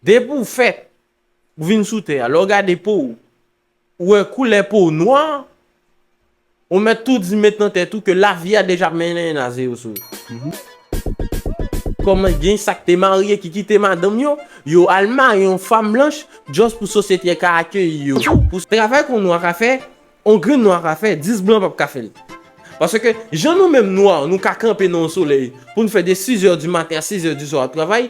Depi w fèt, ou vin sou tè a, lè w gade po w, ou wè koulè po w nwa, ou mèt tou di met nan tèt ou ke lavi a deja mennen naze yo sou ou. Kòman gen sa k te marye ki kite madanm yo, yo al marye yon fanm blanch just pou sosyete a ka akeyi yo tou, pou travay ke yon nwa ka fè, yon grenn nwa ka fè, 10 blan pap ka fè l. Paske jan nou menm nwa nou ka kanpe nan yon solèy pou n fè de 6 è di maten a 6 è di swa ap travay,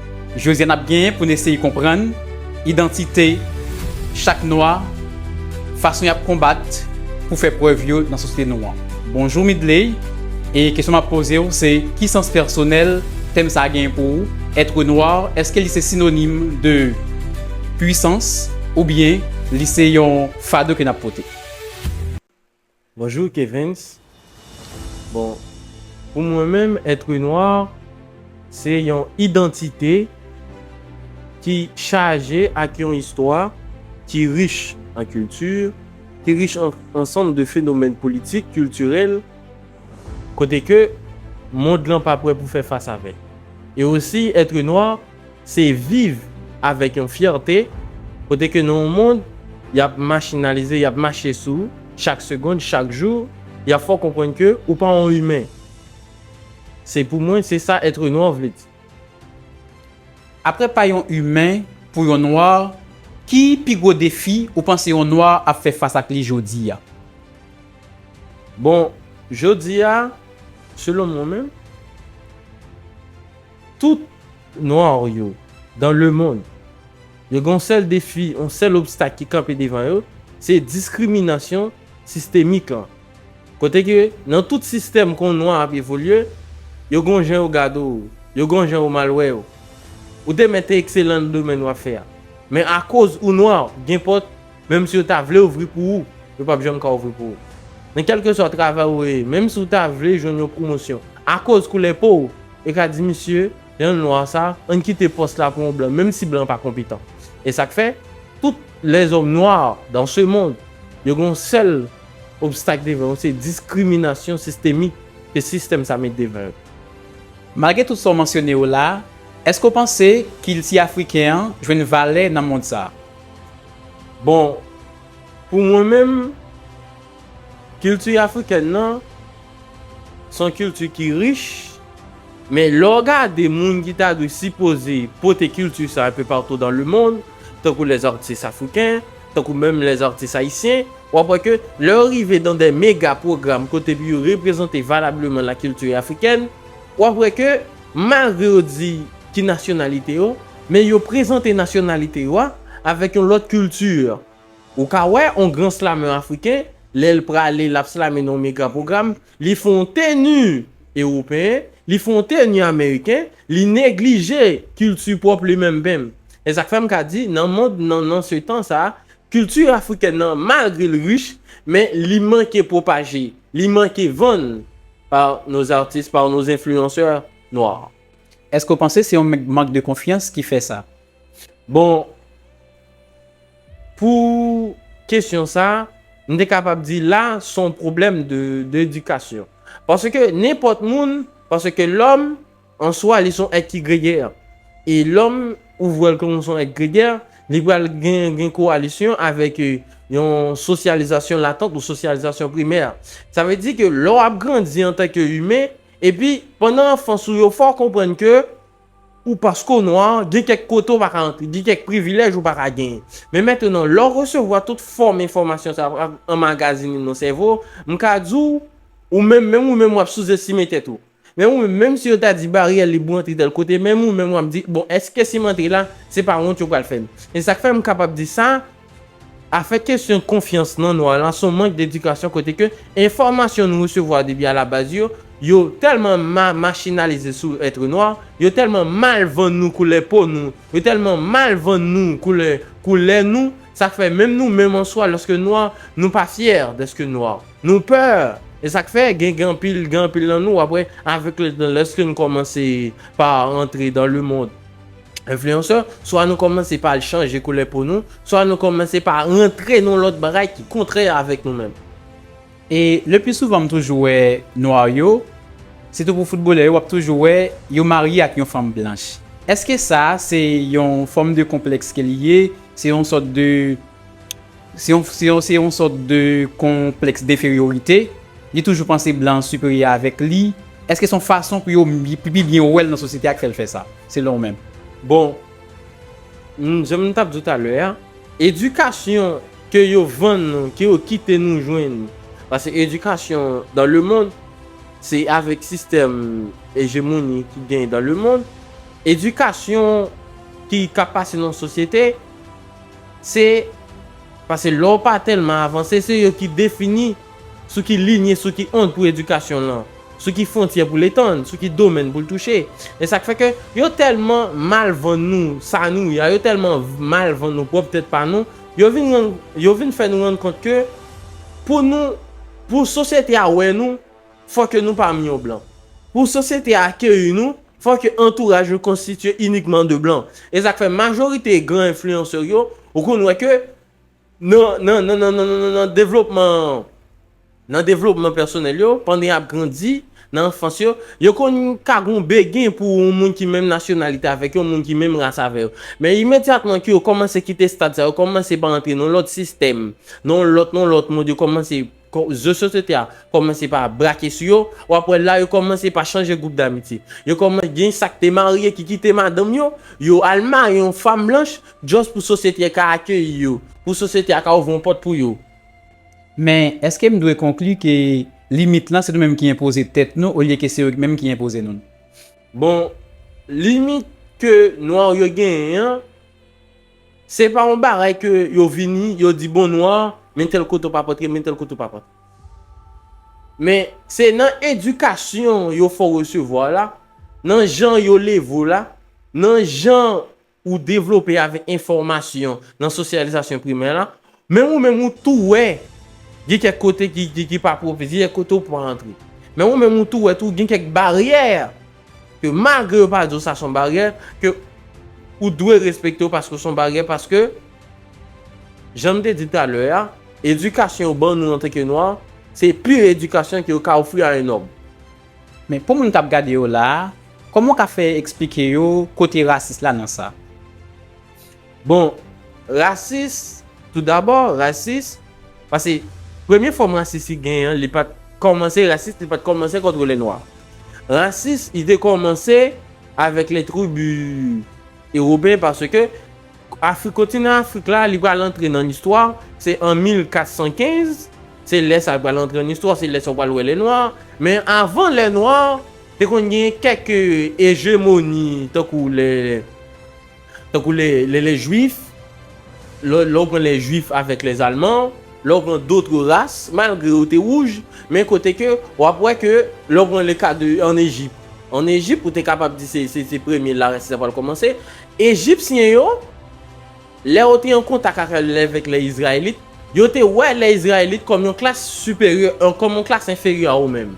Jodi a n ap genyen pou n eseye konprann idantite chak nwa, fason y ap konbat pou fè prèv yo nan sosyete nou an. Bonjou Midley, e kesyon m ap poze w se ki sans pèsonèl tèm sa a genyen pou ou? Être noir, èske li se sinonim de pwisans oubyen li se yon fado ke n ap pote? Bonjour Kevens bon pou mwen menm être noir se yon identité ki chaje ak yon istwa ki rich an culture ki rich an ansanm de fenomèn politik kiltirèl kote ke mond lan pa prè pou fè fas avèl e osi être noir se viv avèk yon fyète kote ke nan yon mond y ap machinalize, y ap mache sou ou chak segond, chak jou, y ap fè w konprann ke ou pa yon imen. Se pou mwen, se sa être noir vle di. Aprè pa yon imen, pou yon nwa, ki pi gwo defi ou panse yon nwa ap fè fas ak li jodi a? Bon, jodi a, selon mwen menm. Tout noir yo dans le monde yo gen yon sèl defi, yon sèl obstak ki kanpe devan yo, se diskriminasyon sistemik lan. Kote ke nan tout sistèm kon nwa ap evolye, yo gen yon jan yo gade w, yo gen yon jan yo mal wè w. Ou te mèt ekselan nan domèn wap fè a, men akoz ou nwa gen pòt Menm si yo ta vle ouvri pou ou, yo pap janm ka ouvri pou ou. Nan kèlkeswa travay ou ye, menm si ou ta vle jwenn yon pwomosyon, akoz koulè po ou, yo ka di misye, jan l nwa sa, ann kite pòs la pou yon blan, menm si blan an pa konpetan. E sa k fè, tout lèzòm nwa dan se mond, yo gen yon sèl obstak devan yo, se diskriminasyon sistemik ke sistèm sa met devan yo. Malgre tout sa w mansyone yo la, èske w panse kilti afriken an jwenn valè nan mond sa? Bon, pou mwen menm, kilti afrikèn nan, se yon kilti ki rich, men lè w gade moun ki ta dwe sipoze pote kilti sa enpe patou dan lemonn, tankou lèzartis afriken, tankou menm lèzartis ayisyen, w ap wè ke lè yo rive dan dè mega pwogram kote pou yo reprezante valableman lakilti afrikèn, w ap wè ke malgre yo di ki nasyonalite yo, Men yo prezante nasyonalite yo a avèk yon lòt kilti. Ou ka wè on gran slameur afriken, lè l prale l ap slame nan yon mega pwogram, li fon w teni ewopeyen, li fon w teni ameriken, li neglije kilti pwòp li menm benm. E sa k fè m ka di nan mond nan, nan se tan sa, kilti afrikèn nan malgre l rich, men li manke pwopaje, li manke vann par nos artistes, par nos influenceurs noirs. Èske ou panse se yon mank de konfyans ki fè sa? Bon, pou kesyon sa, m te kapab di la se yon pwoblèm de edikasyon. Paske nenpòt moun, paske lòm an swa li se yon èt ki gregè. E lòm ou wè l kòm se yon èt gregè, li pral gen kowalisyon avèk yon sosyalizasyon latant ou sosyalizasyon primè. Sa vle di ke lè w ap grandi antanke imen, Epi, pandan anfans ou yo, fò w konprann ke ou paske w nwa, gen kèk kote ou pa ka antre, gen kèk privilèj ou pa ka genyen. Men mentenan, lè w resevwa tout fòm enfòmasyon sa yo ap anmagazinen nan sèvo w, m ka di w, ou menm, menm ou menm w ap souzestime tèt ou. Menm ou menm, menm si yo ta di baryè lib ou antre tèl kote, menm ou menm w ap di, bon, èske si m antre la, se pa wont yo pral fè m? E sa k fè m kapab di sa, Afè kesyon konfyans nan nwa la son mank d'edikasyon kote ke enfòmasyon nou resevwa depi a la baz yo, yo tèlman ma machinalize sou être noir, yo tèlman mal vann nou koulè po nou, yo tèlman mal vann nou koulè koulè nou, sa k fè menm nou menm an swa lòske nwa nou pa fyè dèske nwa. Nou pè, e sa k fè gen gen anpil gen anpil nan nou wap wè avèk le tan lèske nou kòmanse pa antre dan le mond, Influencer, swa nou kòmanse pa al chanje koulè po nou, swa nou kòmanse pa rantre nan yon lòt bagay ki kontrè avèk nou menm. E le pli souvan m toujou wè nwa yo, sitou pou foutbolè yo wap toujou wè yo marye ak yon fanm blanch. Eske sa se yon fòm de konplèks ke li ye, se yon sòt de Se yon sòt de konplèks deferiorite, li toujou panse blan an siperyè avèk li. Èske se yon fason pou yo pi byen wè l nan sosyete a ki fè l fè sa, selon ou menm? Bon, jan m t ap di w talè a, edikasyon ke yo vann nou, ke yo kite nou jwenn, paske edikasyon dan lemonn, se avèk sistèm ejemoni ki genyen dan lemonn, edikasyon ki ka pase nan yon sosyete, Se Pase lè w pa tèlman avanse, se yo ki defini sou ki linye, sou ki ond pou edikasyon w lan, sou ki fwontyè pou l etann, sou ki domèn pou l touche. E sa k fè ke yo tèlman mal vann nou sa nou ye a, yo tèlman mal vann nou pwòp tèt pa nou, yo vin rann, yo vin fè nou rann kont ke pou nou, pou sosyete a wè nou, fò ke nou pami yon blan. Pou sosyete a akeyi nou, Fò ke antouraj yo konstitye inikman de blan. E sa k fè majorite gran enfliyansè yo, ou konn wè ke nan, nan, nan, nan, nan, nan, nan, nan devlopman, nan devlopman pèsonèl yo, pandan y ap grandi, nan anfans yo, yo konn ka gen yon bege pou yon moun ki menm nasyonalite avèk yo, yon moun ki menm ras avè yo. Men imedyatman ke yo kòmanse kite stad sa, yo kòmanse pa antre nan yon lòt sistèm, nan yon lòt, nan yon lòt mond, yo kòmanse Rezo sosyete a kòmanse pa brake sou yo, w ap wè la yo kòmanse pa chanje gwoup damitye. Yo kòmanse gen sa k te marye ki kite madanm yo, yo al marye yon fanm blanch just pou sosyete a ka akeyi yo, pou sosyete a ka ouvri yon pòt pou yo. Men, èske m dwe konkli ke limit lan se nou menm ki enpoze tèt nou olye ke se yo menm ki enpoze nou l? Bon, limit ke nwa yo genyen an. Se pa yon bagay ke yo vini, yo di bon nwa, men tèl kote ou pa p antre, men tèl kote ou pa p antre. Men, se nan edikasyon yo fè w resevwa w la, nan jan yo leve w la, nan jan ou devlope avèk enfòmasyon nan sosyalizasyon primè la, Men ou menm ou tou wè gen kèk kote ki pa pwofesi, gen kèk kote ou pa antre. Men ou menm ou tou wè tou gen kèk baryè ke malgre yo pa di w sa son baryè, ke ou dwe respekte yo paske son baryè, paske jan m te di talè a, edikasyon yo ban nou antanke nwa, se pi edikasyon ke yo ka ofri a yon nòm. Men pou moun k ap gade yo la a, kòman w ka fè eksplike yo kote rasis la nan sa? Bon, rasis, tou dabò, rasis, pase premye fòm rasis li gen an, li pa t kòmanse rasis, li pa t kòmanse kont lènwa. Rasis, li te kòmanse avèk lè tribi ewopeyen paske Afrik, kontinan Afrik la, li pral antre nan listwa, se an 1415, se lè sa li pral antre nan istwa, se lè sa ou pral wè lènwa. Men avan lènwa, te konn gen kèk ejemoni tankou lè. Tankou le le les juifs, lè lè ou pran les juifs avèk les allemands, lè ou pran d'autres races, malgre yo te wouj, men kote ke ou ap wè ke lè ou pran le ka de an Ejip, an Ejip ou te kapab di se se se premye la rasis la pral kòmanse, Ejipsyen yo, lè yo te an kontak ak lèvèk les Israélites, yo te wè les Israélites kòm yon klas siperyè, kòm yon klas enferyè a ou menm.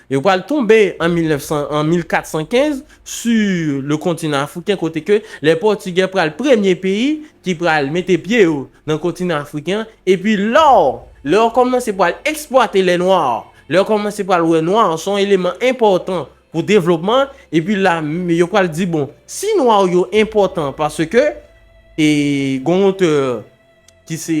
Yo pral tonbe an 1415 su le kontinan afriken kote ke lè pòtigè pral premye peyi ki pral mete pye yo nan kontinan afriken an epi lò lè yo kòmanse pral eksplwate lè nwa lè yo kòmanse pral wè nwa se yon eleman enpòtan pou devlopman epi la yo pral di bon si nwa yo enpòtan paske e gon otè ki se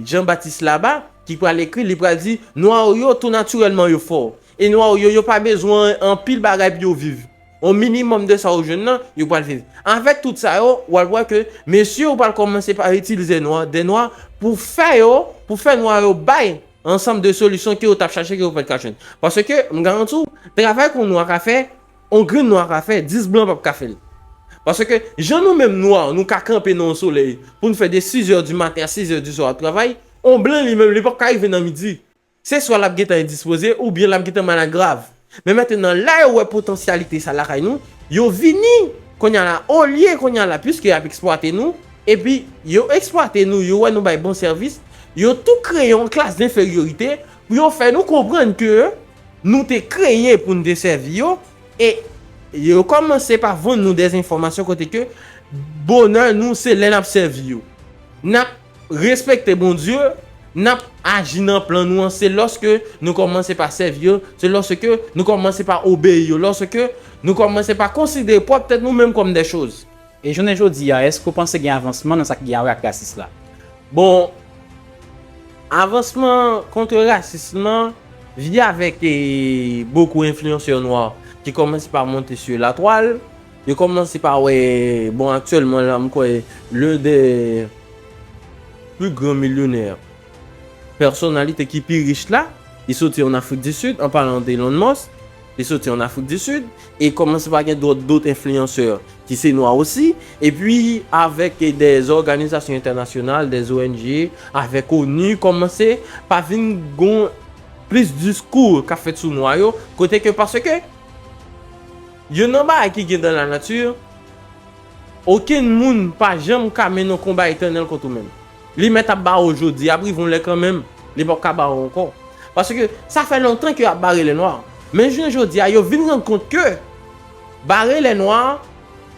Jean Baptiste Laba, ki pral ekri, li pral di, Nwa yo, tou natirèlman yo fò. E nwa yo, yo pa bezwen anpil bagay pou yo viv. On minimòm de sa yo jwenn nan, yo pral viv. Avèk tout sa yo, ou al wè ke mesye yo pral kòmanse pa itilize nwa, de nwa, pou fè yo, pou fè nwa yo bay ansanm de solisyon ke yo t ap chache ke yo pa t ka jwenn. Paske, m garanti w, travay ke yon nwa ka fè, On grenn nwa ka fè, 10 blan pap ka fèl. Paske jan nou menm nwa nou ka kanpe nan on solèy poun fè de 6 heures du matin a 6 heures du soir ap travay, on blan li menm li pap ka rive nan midi. Se swa lap gentan endispoze ou byen lap gentan malad grav. Men mentenan la yo wè potansyalite sa lakay nou, yo vini konnya la olye konnya la pwiske yap eksplwate nou, epi yo eksplwate nou yo wè nou bay bon sèvis, yo tou kreye on klas denferyorite pou yo fè nou konprann ke Nou te kreye pou n te sèvi yo, e yo kòmanse pa vann nou dezenfòmasyon kote ke bonè nou se lè n ap sèvi yo. N ap respekte Bondye, n ap aji nan plan nou an se lòske nou kòmanse pa sèvi yo, se lòske nou kòmanse pa obeyi yo, lòske nou kòmanse pa konsidere pwòp tèt nou menm kòm dè choz. E jounen jodi a, èske ou panse gen avansman nan sa ki gen a wè ak rasis la? Bon, avansman kontre rasism lan vini avèk bokou enfliyansè nwa ki kòmanse pa monte su latwal. Yo kòmanse pa wè, bon aktyèlman la m kwè len dè pli gran milyonè, pèsonalite ki pi rich la, li soti ann Afrik di Sid, an palan de Elon Musk. Li soti an Afrik di Sid, e kòmanse pa gen dòt dot enfliyansè ki se nwa osi, epi avèk dè òganizasyon entènasyonal, dè ONG, avèk onu, kòmanse pa vin gon plis diskou k ap fèt sou nwa yo, kote ke paske youn nan bagay ki gen dan lanati, okenn moun pa janm ka mennen yon konba etènèl kont ou menm. Li mèt ap ba ou jodi a, ap rive yon lè kanmenm, li pap ka ba ou ankò. Paske, sa fè lontan ke yo ap bare lènwa. Men jounen jodi a, yo vin rann kont ke, bare lènwa,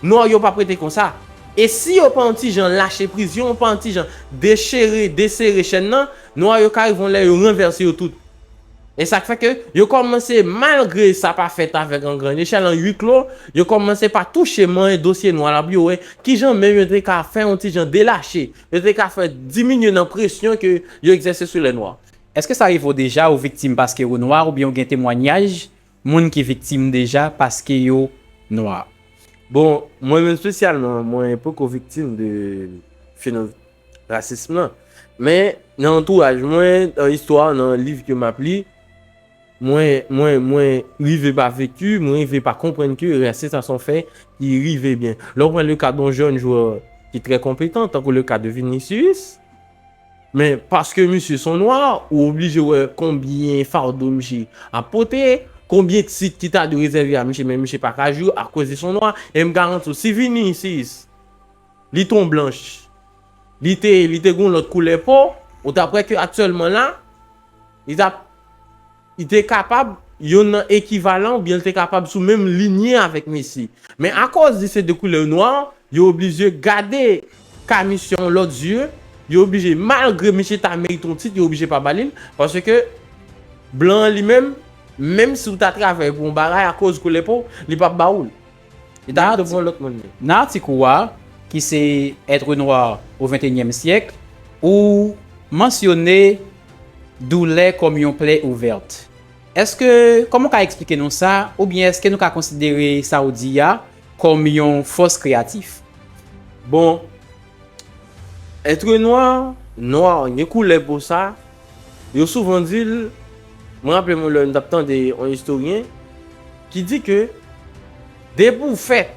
nwa yo pap rete konsa. E si yo pa yon ti jan lache priz, si yo pa yon ti jan dechire, desere chèn nan, nwa yo ka rive yon lè yo ranvèse yo tout. E sa k fè ke yo kòmanse, malgre sa pa fèt avèk an gran echèl, an ui klo, yo kòmanse pa touche manyen dosye nwa la pou yo wè ki jan menm yo te ka fè yon ti jan delache, yo te ka fè diminye nan presyon ke yo egzèse sou lè nwa. Èske sa rive w deja ou viktim paske ou nwa oubyen ou gen temwanyaj Moun ki viktim deja paske yo nwa. Bon, mwen menm spesyalman, mwen poko viktim de fenom rasism lan. Men, nan antouraj mwen, nan istwa, nan liv ke map li, mwen, mwen, mwen rive pa vekti, mwen rive pa konprann ke rasis sa son fè ki rive byen. Lè ou pran le ka don jèn jwè ki trè konpetan, tankou le ka de Vinicius, Men paske misye son nwa, ou oblije wè konbyen fado misye ap pote, konbyen tit ki ta dwe rezève a misye men misye pa ka jwe akoz li son nwa, e m garanti w si Vinicius li t on blanch, li te li te gen yon lòt koulè po, ou t ap wè ke aktyèlman la, li t ap. Li te kapab youn nan ekivalan oubyen li te kapab sou menm linye avèk Messi. Men akòz li se de koulè nwa, yo oblije gade Camus yon lòt zye, yo oblije malgre misye ta merite yon tit yo oblije pa ba li l, paske blan an li menm, menm si ou ta travay pou yon bagay akòz koulè po w, li p ap ba ou l. Li ta pito pou yon lòt moun li. Nan atik ou a, ki se Être noir au XXIe siècle, ou mansyone doulè kòm yon plè ouvèt. Èske, kòman ou ka eksplike nou sa, oubyen èske nou ka konsidere sa ou di a kòm yon fòs kreyatif? Bon, Être noir, noir gen koulè po sa, yo souvan di l, mwen raple mwen lè m t ap tande yon istoryen ki di ke depi w fèt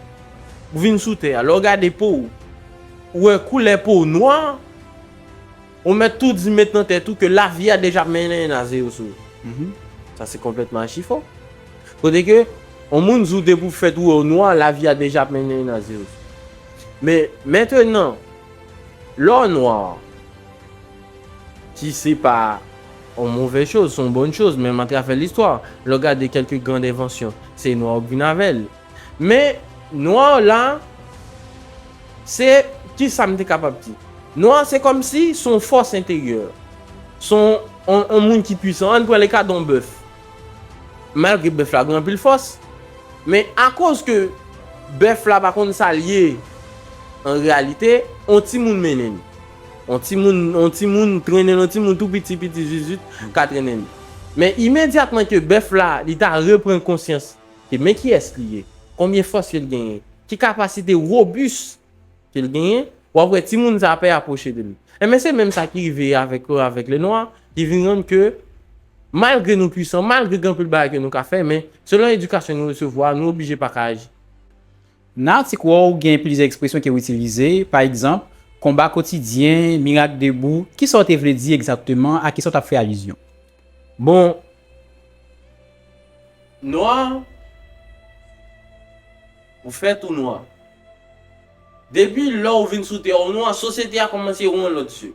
pou vin sou tè a lè w gade po w ou wè koulè po w noir, Ou mèt tou di met nan tèt ou ke lavi a deja mennen naze yo sou ou. Sa se konplètman achifo. Kote ke yon moun di w depi w fèt ou wè w nwa, lavi a deja ap mennen naze yo sou ou. Men, mentenan, lè w nwa, ki se pa yon move choz, se yon bon choz, menm atravè listwa, lè w gade kèlke grand envansyon, se nwa yo k vin avè l. Men, nwa an la, se, ki sa m te kapab di? Nwa an se kòm si s on fòs enteryè. S on, on moun ki pwisan. An n pran leka don bèf. Malgre bèf la gen anpil fòs, men akoz ke bèf la pa konn sa l ye an reyalite, on timoun mennen li. On timoun, on timoun trennen l, on timoun tou piti piti zuizut ka trennen li. Men imedyatman ke bèf la, li ta repran konsyans, ke men kiyès li ye, konbyen fòs ke l genyen, ki kapasite robus ke l genyen, w ap wè timoun sa a pè apwoche de li. Enben se menm sa ki rive avèk yo, avèk Lenwa, ki vin rann ke malgre nou pwisan, malgre gen anpil bagay ke nou ka fè, men selon edikasyon nou resevwa a, nou oblije pa ka aji. Nan atik wè w gen plizyè ekspresyon ke w itilize, pa egzanp, konba kotidyen, mirak debou, kisa w te vle di egzatteman, a kisa w t ap fè alizyon? Bon Nwa Ou fè tou nwa Depi lè ou vin sou tè ou nwa sosyete a kòmanse yon lòt je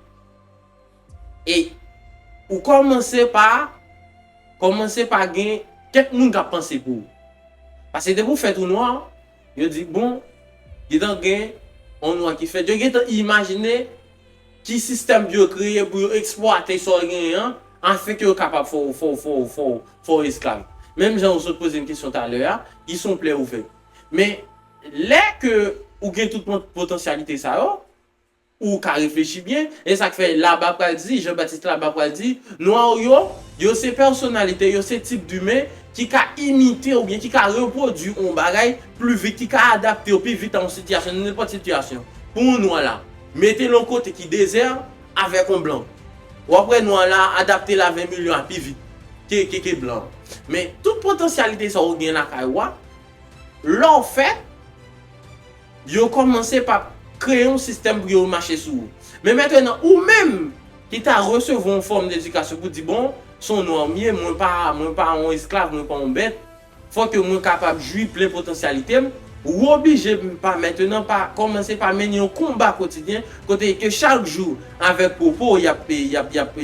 e ou kòmanse pa kòmanse pa gen kèk moun k ap panse pou ou paske depi ou fè tou nwa Yo di, bon, gentan gen yon nwa ki fèt. Yo gentan imajine ki sistèm pou yo kreye pou yo eksplwate sa w genyen an, afin ke yo kapab fè w, fè w, fè w, fè w, fè w esklav. Menm jan ou sot poze m kesyon talè a, ki son plè ou fè. Men, lè ke ou gen tout potansyalite sa yo, Ou ka reflechi byen, e sa k fè Laba pral di, Jan Batis Laba pral di, Nwa yo, yo se pèsonalite, yo se tip dimen ki ka imite oubyen ki ka repwodui yon bagay pli vit, ki ka adapte yo pi vit a yon sitiyasyon, nan nenpòt sitiyasyon. Pou yon Nwa la, mete l yon kote ki dezè avèk yon Blan, w ap wè Nwa la adapte l a 20 milyon a pi vit ke Blan an. Men, tout potansyalite sa yo ou gen lakay ou a, lè w fè. Yo kòmanse pa kreye yon sistèm pou yo mache sou ou. Men mentenan ou menm ki ta resevwa yon fòm ledikasyon pou di bon, se yon nwa ou m ye, mwen pa, mwen pa yon esklav, mwen pa yon bèt, fò ke mwen kapab jwi plen potansyalite m, ou oblije pa mentenan pa kòmanse pa mennen yon konba kotidyen kote ke chak jou avèk pwopo y ap, y ap, y ap,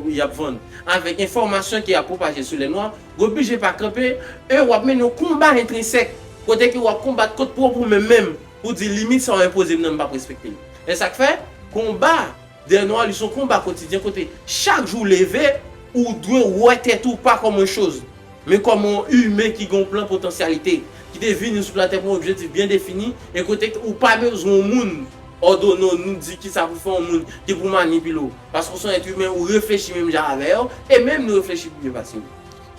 y ap vann, avèk enfòmasyon ke y ap pwopaje sou lè nwa, Gwo bije pa kanpe, e wap mennen yon konba entrinsèk, kote ke wap konbat kont pwòp ou menm menm, pou di limit sa ou enpoze m nan m pap respekte l. E sak fè, konba dè nwa li son konba kotidyen kote chak jou ou leve, ou dwe wè tèt ou pa kòm yon choz, men kòm yon imen ki gen yon plan potansyalite, ki te vini sou latè pou yon objektif byen defini, e kote ke ou pa bezwen yon moun, Òdone w, nou di kisa pou fè yon moun ki pou manipile w. Paske w se yon èt imen, ou reflechi menm jan avè yo, e menm nou reflechi pi byen pase yo.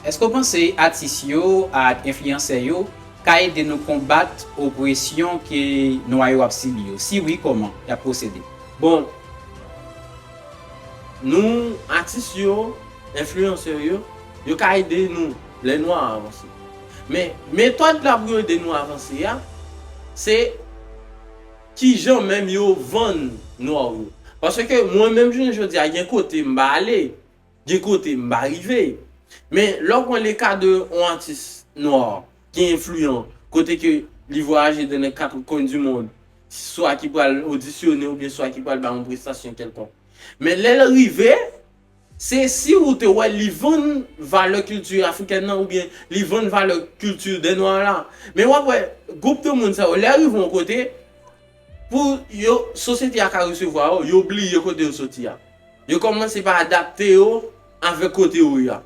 Èske w panse atis yo ak enfliyansè yo ka ede nou konbat opresyon ke Nwa yo ap sibi yo? Si wi, kòman y ap pwosede? Bon, nou, atis yo, enfliyansè yo, yo ka ede nou lè Nwa a avanse. Men, metòd la pou yo ede nou avanse a, se. Kijan menm yo vann nwa w yo? Paske mwen menm jounen jodi a gen kote m pa ale, gen kote m pa rive. Men lè w pran le ka de yon atis nwa ki enfliyan, kote ke li vwayaje de nan kat kwen di mond, swa ki pral odisyone oubyen swa ki pral bay yon prestasyon kèlkonk. Men lè l rive. Se si ou te wè li vann valè kilti afrikèn nan oubyen li vann valè kilti dè nwa la. Men wap wè gwoup de moun sa yo lè yo rive yon kote pou yo sosyete a ka resevwa yo, yo bliye kote yo soti a. Yo kòmanse pa adapte yo avèk kote yo ye a.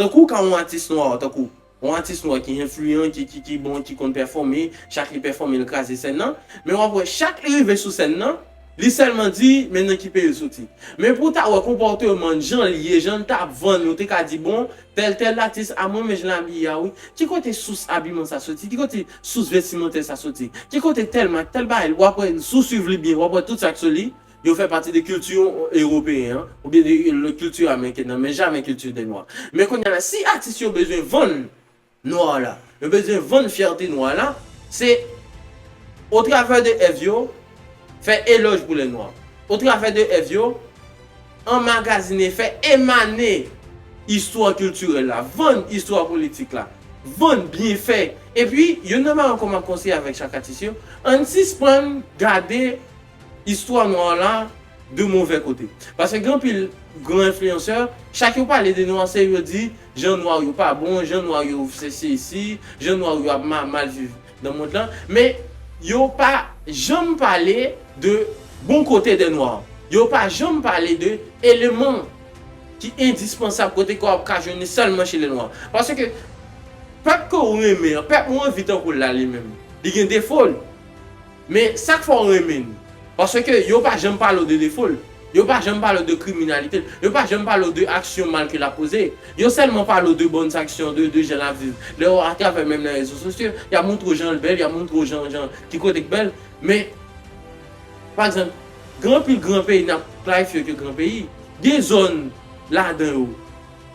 Tankou ka yon atis nwa tankou Yon atis nwa ki enfliyan, ki ki ki bon, ki konn pèfòme, chak li pèfòme li kraze sèn nan, men wap wè chak li rive sou sèn nan, li sèlman di, men nan ki peyi l soti. Men pou w ta wè konpòteman l, jan l ye, jan l ta vann, ou te ka di bon, tèl tèl atis, a mwen men jan l abiye a wi, ki kote sous abiman sa soti, ki kote sous vestimantè sa soti, ki kote tèl mak, tèl bagay, wap wè, si w swiv li byen, wap wè tout sa k sou li, Yo fè pati de kilti ewopeyen an oubyen de yon lòt kilti ameriken nan men jamè kilti de nwa. Men kounye a la si atis yo bezwen vann nwa la, yo bezwen vann fyète nwa la, se o travè de èv yo fè elòj pou lè nwa, o travè de èv yo anmagazine, fè emane istwa kiltirèl la, vann istwa politik la, vann byenfè. Epi, youn nan bagay mwen kòman konseye avèk chak atis yo, ann sispann gade Istwa nwa an la de movè kote. Paske gen anpil gran enfliyansè, chak yo pale de nwa se yo di jan nwa yo pa bon, jan nwa yo se sesi, jan nwa yo ap mal viv nan mond lan. Men yo pa janm pale de bon kote de nwa an. Yo pa janm pale de eleman ki endispansab kote ke w ap ka jwenn li sèlman che le nwa. Paske pèp ke w renmen an, pèp ou anvi tankou l la li menm, li gen defo l. Men sak fè w renmen li? Paske yo pa janm pale w de defo l, yo pa janm pale w de kriminalite l, yo pa janm pale w de aksyon mal ke l ap poze, yo sèlman pale w de bòn aksyon, de de jan l ap viv. Lè w atravè menm nan rezo sosyo, y ap montre w jan l bèl, y ap montre w jan jan ki kote k bèl, men pa egzanp gen anpil gran peyi n ap klarifye yo ke gran peyi, gen zòn ladan yo,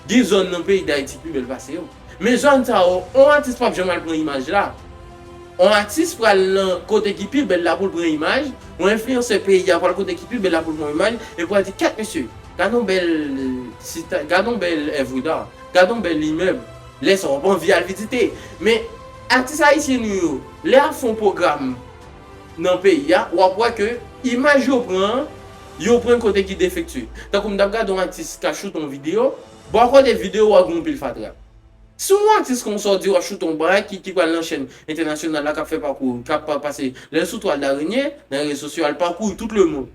Gen zòn nan peyi dayiti pi bèl pase yo. Men zòn sa yo on atis pap janm al pran imaj la. On atis pral nan kote ki pi bèl la poul pran imaj, on enfliyansè peyi a pral kote ki pi bèl la poul pran on imaj e pral di kèt mesye, gad on bèl sit, gad on bèl èvre da, gad on bèl imèb, lè sa wap anvi al vizite. Men atis ayisyen nou yo lè yap fon pwogram. nan peyi a wap wè ke imaj yo pran an yo pran kote ki defektye tankou m tap gade yon atis ka shoot yon video bon akòde video wa gen yon pil fatra si yon atis konsa ou di wap shoot yon bagay ki ki pral nan chèn entènasyonal la kap fè pakou kap pase lèl sou twal darenye nan rezo sosyo al pakouri tout lemond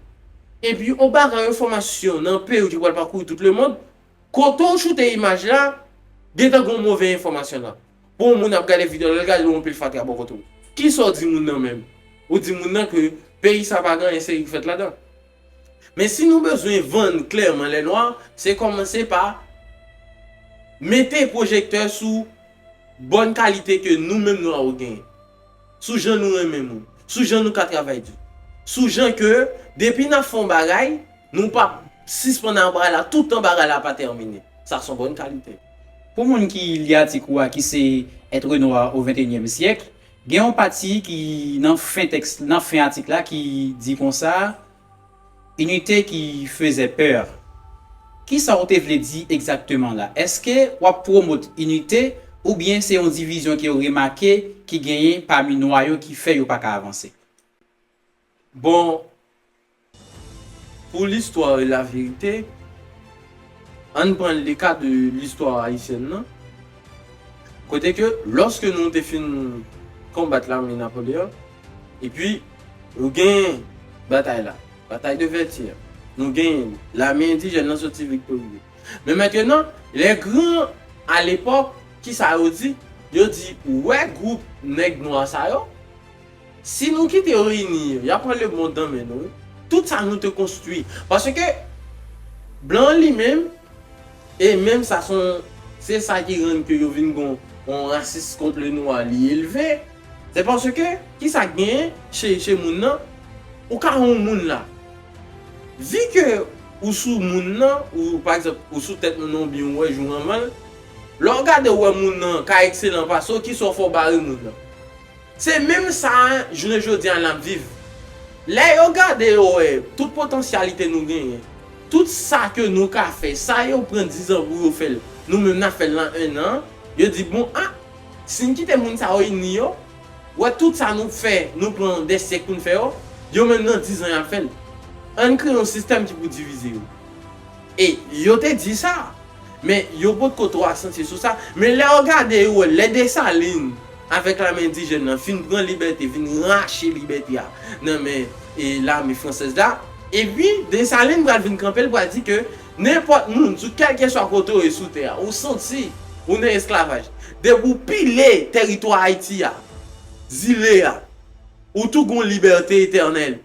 epi yon bagay yon enfòmasyon nan peyiw ki pral pakouri tout lemond kotew shoute imaj la gentan gen yon move enfòmasyon nan. Bon moun ap gade video lèl gade ou anpil fatra bò kòt ou kisa ou di moun nan menm ou di moun nan ke peyi sa pa gen anyen serye ki fèt ladan men si nou bezwen vann klèman lè nwa se kòmanse pa mete pwojektè sou bòn kalite ke nou menm nwa ou genyen. sou jan nou renmen moun, sou jan nou ka travay di, sou jan ke depi n ap fè yon bagay, nou pa p sispann ak bagay la toutan bagay la pa tèmine. Sa son bòn kalite. Pou moun ki li atik ou a ki se Être noir au XXIème siècle, gen yon pati ki nan fen tèks nan fen atik la ki di konsa, Inite ki fezè peur. Kisa ou te vle di egzakteman la? Eske wap pwomot inite ou byen se yon divizyon ke ou remake ki genyen pami nwa yo ki fè yo pa ka avanse? Bon pou listwa e la verite ann pran le ka de listwa ayisyèn nan kote ke loske nou te fin konbat lame Napoleon Epi ou genyen batay la, batay de Vètyè, nou genyen li. Lame endijèn nan soti viktorye. Men mentenan, lè gran alepòk, ki sa yo di? Yo di, ou wè gwoup nèg nwa sa yo? Si nou kite yo ini yo, y a pran lemond nan men nou wi. Tout sa nou te konstwi. Paske blan an li menm, e menm sa se yon, se sa ki rann ke yo vin gen yon rasis kont le nwa li elve. Se paske kisa k gen che moun nan ou ka yon moun la vi ke ou sou moun nan ou pa egzanp ou sou tèt moun nan ou byen ou wè jou anvan l lè w gade ou wè moun nan ka ekselan pase w kisa w fè w bare moun nan se menm sa jounen jodi a n ap viv lè yo gade yo wè tout potansyalite nou genyen tout sa ke nou ka fè sa yo pran dizan pou yo fè l nou menm n ap fè l nan ennan yo di bon a. Si n kite moun sa yo ini yo, wè tout sa nou fè, nou pran dè syèk pou n fè yo, yo menm nan dizan y ap fè l. Ann kreye yon sistèm ki pou divize yo. E yo te di sa, men yo potko twò asantye sou sa. Men lè yo gade yo wè lè Desalin avèk lame endijèn nan fin pran libète, vin rache libète a nan men lame fransèz la, epi Desalin pral vin kanpe l pral di ke Nenpòt moun, sou kèlkeswa kote ou ye sou tè a, ou santi ou nan esklavaj, depi ou pile tèritwa Ayiti a, zile a, ou tou gon libète etènèl.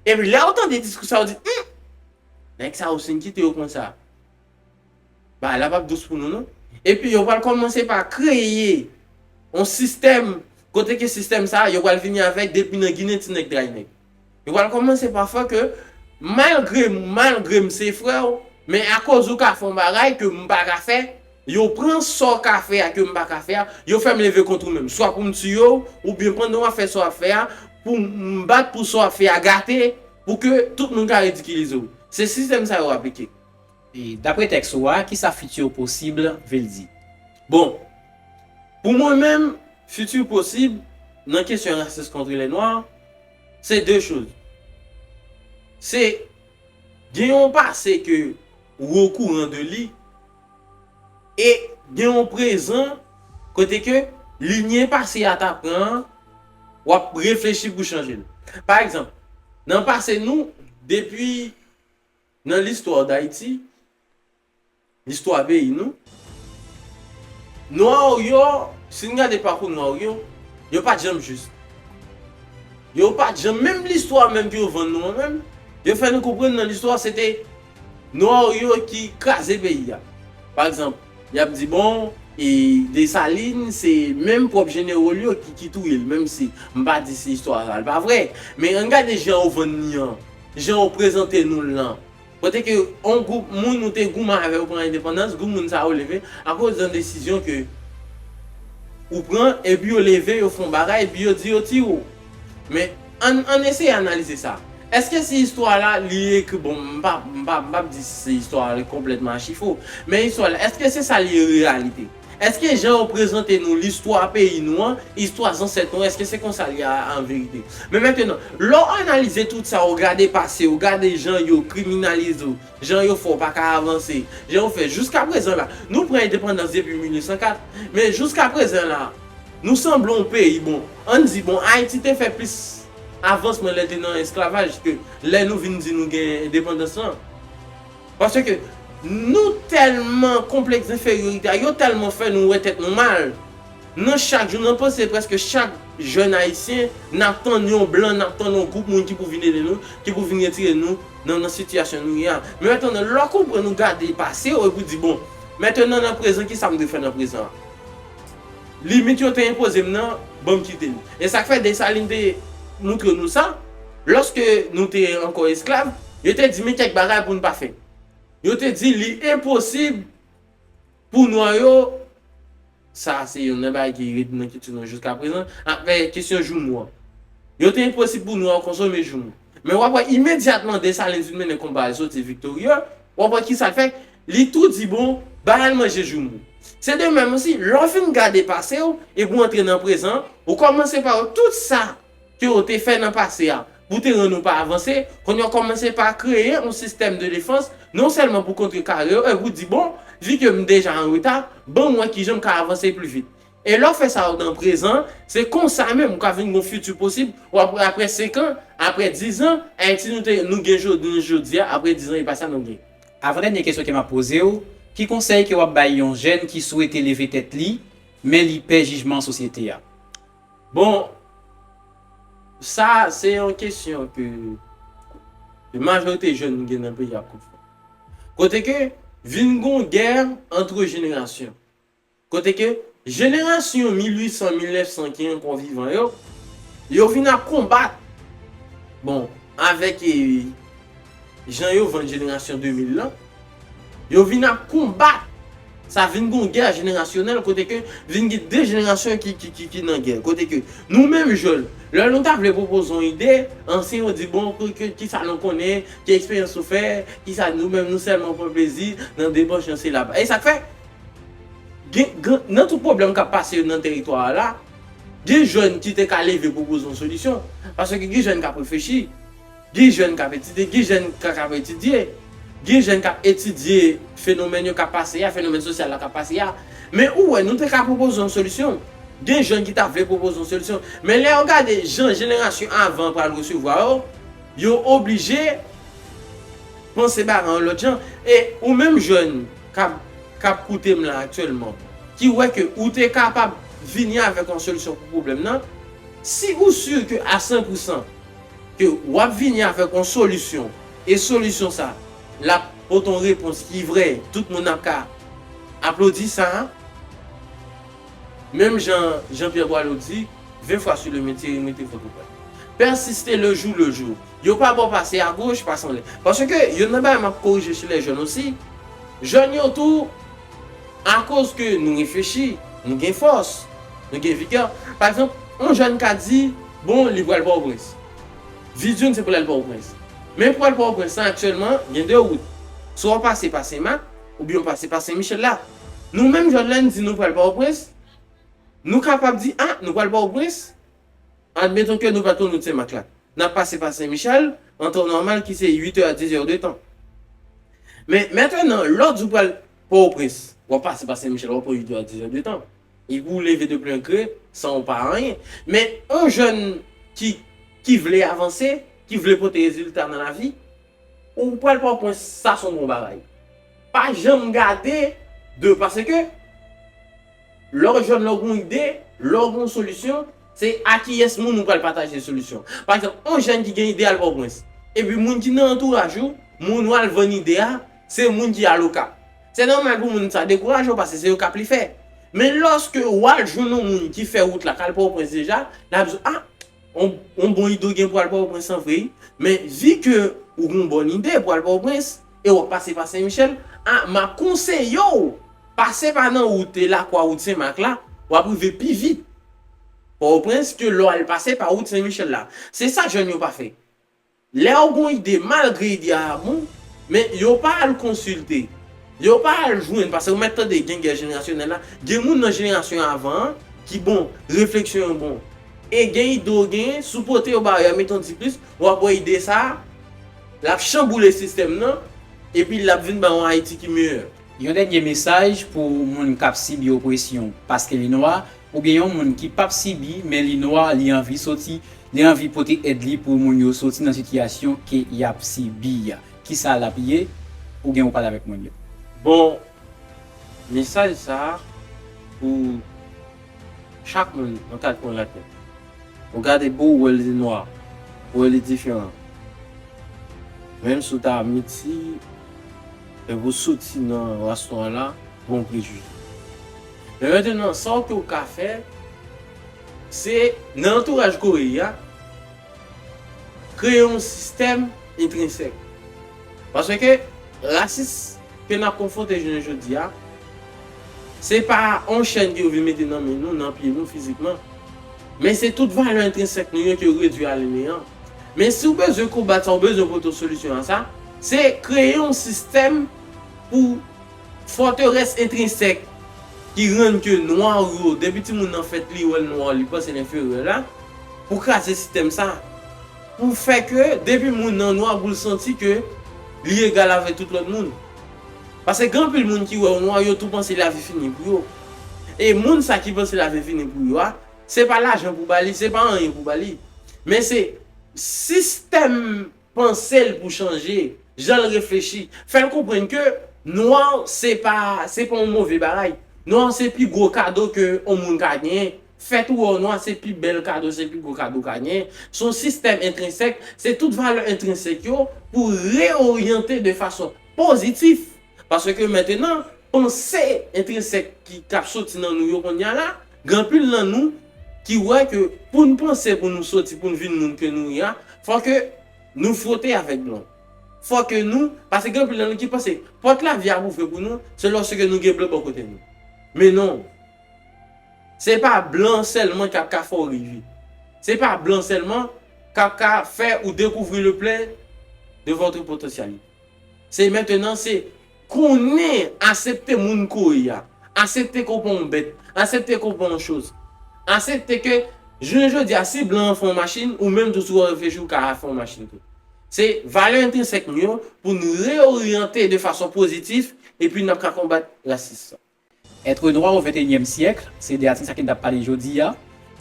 Epi lè ou tande diskou sa ou di, Hum! Nèg sa yo si n kite yo konsa, bagay la p ap dous pou nou non. Epi yo pral kòmanse pa kreye yon sistèm kote ke sistèm sa a yo pral vini avèk depi nan Ginen ti nèg dray nèg. Yo pral kòmanse pa fè ke malgre malgre m se frè w, men akoz ou ka fè yon bagay ke m pa ka fè, yo pran sa w ka fè a ke m pa ka fè a, yo fè m leve kont ou menm. Swa pou m tiye w, oubyen pandan w ap fè sa w ap fè a, pou m bat pou sa w ap fè a gate, pou ke tout moun ka ridikilize w. Se sistèm sa yo aplike. Dapre tèks ou a, ki sa futur possible vle di? Bon, pou mwen menm, futur possible, nan kesyon rasis kontre lè nwa, se de choz. Se gen yon pase ke ou okouran de li, e gen yon prezan kote ke linye pase a ta pran an, w ap reflechi pou chanje l. Pa egzanp, nan pase nou, depi. Nan listwa Dayiti, listwa peyi nou, Nwa ou yo, si n gade pakou Nwa ou yo, yo pa t janm jis. Yo pa t janm, menm listwa menm ke yo vann nou an menm, yo fè nou konprann nan listwa se te Nwa ou yo ki kraze peyi a. Pa egzanp, Y ap di bon, e Desalin se menm pwòp jenero l yo ki touye l. Menm si m pa di si istwa sa l pa vrè. Men ann gade jan yo vann ni an, jan yo prezante nou l lan. Kote ke yon gwoup moun ou te goumen avè yo pou endepandans, gwoup moun sa yo leve akoz yon desizyon ke ou pran, epi yo leve yo fè yon bagay, epi yo di yo tiye w. Men ann eseye analize sa. Eske si istwa la li ekri bon m pa m pa m pap di si se istwa a li konplètman achi fo men istwa la eske se sa li reyalite eske jan yo prezante nou listwa peyi nou an istwa zansèt nou eske se konsa li a an verite men mentenan lè w analize tout sa w gade pase w gade jan yo kriminalize w jan yo fè w pa ka avanse jan yo fè jiska prezan la nou pran endepandans depi 1804 men jiska prezan la nou sanble yon peyi bon ann di bon ayiti te fè plis Avans mwen lè te nan esklavaj ke lè nou vin di nou gen endepandans lan. Paske nou tèlman konplèks denferyorite a, yo tèlman fè nou wè tèt nou mal. Nan chak jou, nan panse prèske chak jèn ayisyen, n ap tann yon blan, n ap tann yon gwoup moun ki pou vin ede nou, ki pou vin retire nou nan nan sitiyasyon nou ye a. Men antandan lè w konprann ou gade pase ou epi w di bon, mètenan nan prezan kisa m dwe fè nan prezan an? Limit yo te enpoze m nan, ban m kite l. E sa k fè Desalin te montre nou sa, lòske nou te ankò esklav, yo te di men kèk bagay pou n pa fè. Yo te di li enposib pou nwa yo, sa a se youn nan bagay ki ret nan kilti nou jiskaprezan, apre kesyon joumou an. Yo te enposib pou nwa yo konsome joumou. Men w ap wè imedyatman Desalin fin mennen konba a li soti viktorye, w ap wè ki sa l fè, li tou di bon, ba al manje joumou. Se de menm osi, lè w fin gade pase w epi w antre nan prezan an, ou kòmanse pa wè tout sa ke w te fè nan pase a pou te rann ou pa avanse, kounye a w kòmanse pa kreye yon sistèm de defans non sèlman pou kontrekare yo epi pou di bon, vi ke m deja an reta, ban m wè kijan m ka avanse pli vit. E lè w fè sa ou nan prezan, se konsa menm ou ka vin gon fiti posib, ou ap wè aprè 5 an, aprè 10 an, Ayiti nou te nou gen jounen jodi a, aprè 10 an e pa sa nou gen. Avan dènye kesyon ke map poze w, ki konsèy ke wap bay yon jèn ki swete leve tèt li, men li pè jijman sosyete a? Bon, sa se yon kesyon ke majorite jèn gen nan peyi a ap konfwonte. Kote ke vin gon gè antre jenerasyon. Kote ke jenerasyon 1800-1900 ki ankò vivan yo, yo vin ap konbat, bon, avèk jan yo vann jenerasyon 2000 lan, yo vin ap konbat, sa vin gen yon gè jenerasyonèl kote ke vin gen 2 jenerasyon ki nan gè. Kote ke nou menm jèn, lè nou ta vle pwopoze yon ide, ansyen yo di bon, ki sa nou konnen, ki eksperyans nou fè, ki sa nou menm nou sèlman pran plezi nan debòch yon silab. E sa k fè? Gen, gen, nan tout pwoblèm k ap pase yo nan teritwa a la, gen jèn ki te ka leve pwopoze yon solisyon. Paske gen jèn k ap reflechi, gen jèn k ap etidye, gen jèn k ak ap etidye, gen jèn k ap etidye fenomèn yo k ap pase a, fenomèn sosyal la k ap pase a. Men ou wè, nou te ka pwopoze yon solisyon. Gen jèn ki ta vle pwopoze yon solisyon. Men lè yo gade jan jenerasyon avan an pral resevwa yo, yo oblije panse bagay yon lòt jan. E ou menm jèn. kap kap koute m la aktyèlman ki wè ke ou te kapab vini avèk yon solisyon pou pwoblèm nan si ou sur ke a 100 pou 100 ke wap vini avèk yon solisyon e solisyon sa lap pote yon repons ki vrè tout moun ap ka aplodi sa menm jan Jean Pierre Boileau di 20 fwa sur le metier imite fòk ou pèsiste le jour le jour. Yo pa bon pase a goch pa sanble. Paske youn nan bagay map korije sou les jeunes osi, jèn yo tou akoz ke nou reflechi, nou gen fòs, nou gen vigè, pa egzanp yon jèn ka di bon li pral pòtoprens, vi di l se pou l al pòtoprens, men pou al pòtoprens lan aktyèlman gen 2 wout, swa w pase pa senmak oubyen w pase pa senmichèl la. Nou menm jèn lè n di nou pral pòtoprens, nou kapab di a nou pral pòtoprens Admeton ke nou pa tou Rout Senmak la. N ap pase pa Senmichèl, an tan nòmal ki se 8 è a 10 è de tan. Men, mentenan, lòt jou pral Pòtoprens, w ap pase pa Senmichèl, w ap pran 8 è a 10 è de tan. E pou w leve de plen gre, san w pa anyen. Men, yon jèn ki, ki vle avanse, ki vle pote rezilta nan lavi, Ou pral pran pwen sa son bon bagay. Pa janm gade de pase ke lè w jèn lè w gen yon ide, lè w gen yon solisyon se a kiyès moun ou pral pataje solisyon. Pa egzanp yon jèn ki gen ide al Pòtoprens epi moun ki nan antouraj ou, moun ou al vann ide a se moun ki al Okap. Se nòmal pou moun sa dekouraje w pase se Okap li fè. Men lòske ou al jwenn yon moun ki fè wout la k al Pòtoprens deja, l ap di w a On bon ide w gen pou al Pòtoprens lan vre wi. Men vi ke ou gen yon bon ide pou al Pòtoprens e w ap pase pa Sen Michèl, a m ap konseye w pase pa nan wout Lakwa, wout Sen Mak la, w ap rive pi vit Pòtoprens ke lè w al pase pa wout Sen Michèl la. Se sa jèn yo pa fè. Lèw gon ide malgre ide a bon men yo pa al konsilte yo pa al jwenn pase ou mèt tande gen gè jenerasyonèl la gen moun nan jenerasyon avan an ki bon refleksyon yo bon e gen ide ou genyen sou pote yo bayo ya mete yon ti plis wap wè ide sa lap chanboule sistèm nan epi lap vin bay yon ayiti ki meyè. Yon dènye mesaj pou moun kap sibi opresyon paske li nwa, oubyen yon moun ki pap sibi men li nwa li anvi soti, li anvi pote èd li pou moun yo soti nan sitiyasyon ke yap sibi a. Kisa lap ye? Ou gen ou pale avèk moun yo. Bon mesaj sa pou chak moun nan kat kwen latè. Ou gade bouw wè li nwa, ou wè li diferan. Menm si w ta miti. Lè pou soti nan rastò a la, gon prejije. Men mentnan sa w ke w ka fè, se nan antouraj Kore a, kreye yon sistèm entrensèk. Paske rasis ke nap konfwonte jounen jodi a, se pa yon chèn ke yo vin mete nan men nou, nan pye nou fizikman, men se tout valè entrensèk nou yo ke yo redwi a le neyan. Men si w bezwen konbat sa, w bezwen pote yon solisyon a sa, se kreye yon sistèm pou fòterès entrinsèk ki rann ke nwa ou yo, depi timoun nan fèt li wè l nwa, li panse l enferyè la, pou kraze sistèm sa. Pou fè ke depi moun nan nwa pou l santi ke li egal avèk tout lòt moun. Paske gen anpil moun ki wè w nwa, yo tou panse lavi fini pou yo. E moun sa ki panse lavi fini pou yo a, Se pa lajan pou ba li, se pa anyen pou ba li. Men se sistèm panse l pou chanje, jan l reflechi. Fè l konprann ke nwa se pa yon move bagay. Nwa se pi gwo kado ke yon moun ka genyen. Fèt ou wè w nwa se pi bèl kado, se pi gwo kado w ka genyen. Se yon sistèm entrensèk, se tout valè entrensèk yo pou reyoryante de fason pozitif. Paske mentenan, panse entrinsèk ki k ap soti nan nou yo konnya la, gen anpil nan nou ki wè ke pou n panse pou nou soti, pou n vin moun ke nou ye a, fò ke nou fwote avèk blon. Fò ke nou, paske gen anpil nan nou ki panse pòt lavi a ap ouvri pou nou, se lòske nou gen blon bò kote nou. Men non. Se pa blon sèlman ki ap ka fè w rive. Se pa blon sèlman k ap ka fè ou dekouvri le plen de votre potentialité. Se mentenan se konnen asepte moun ke w ye a. Asepte ke w pa yon bèt. Asepte ke w pa yon choz. Asepte ke jounen jodi a si blan an fè yon machin ou menm tou si w ap reflechi ou ka fè yon machin tou. Se valè entrinsèk nou yo pou n reyoryante de fason pozitif epi n ap ka konbat rasis. Être noir au XXIème siècle, se de atik sa ke n t ap pale jodi a.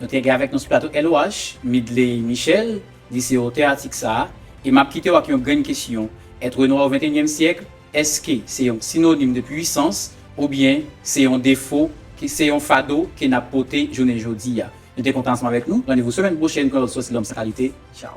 Nou te gen avèk nou sou plato LOH, Midley Michel, li se otè atik sa a. E m ap kite w ak yon grenn kesyon, Être noir au XXIème siècle, èske se yon sinonim de pwisans oubyen se yon defo, se yon fado ke n ap pote jounen jodi a? Nou te kontan ansanm avèk nou. Randevou semèn pwochèn pou yon lòt Sòsi Lòm san Kalite. Tchaw!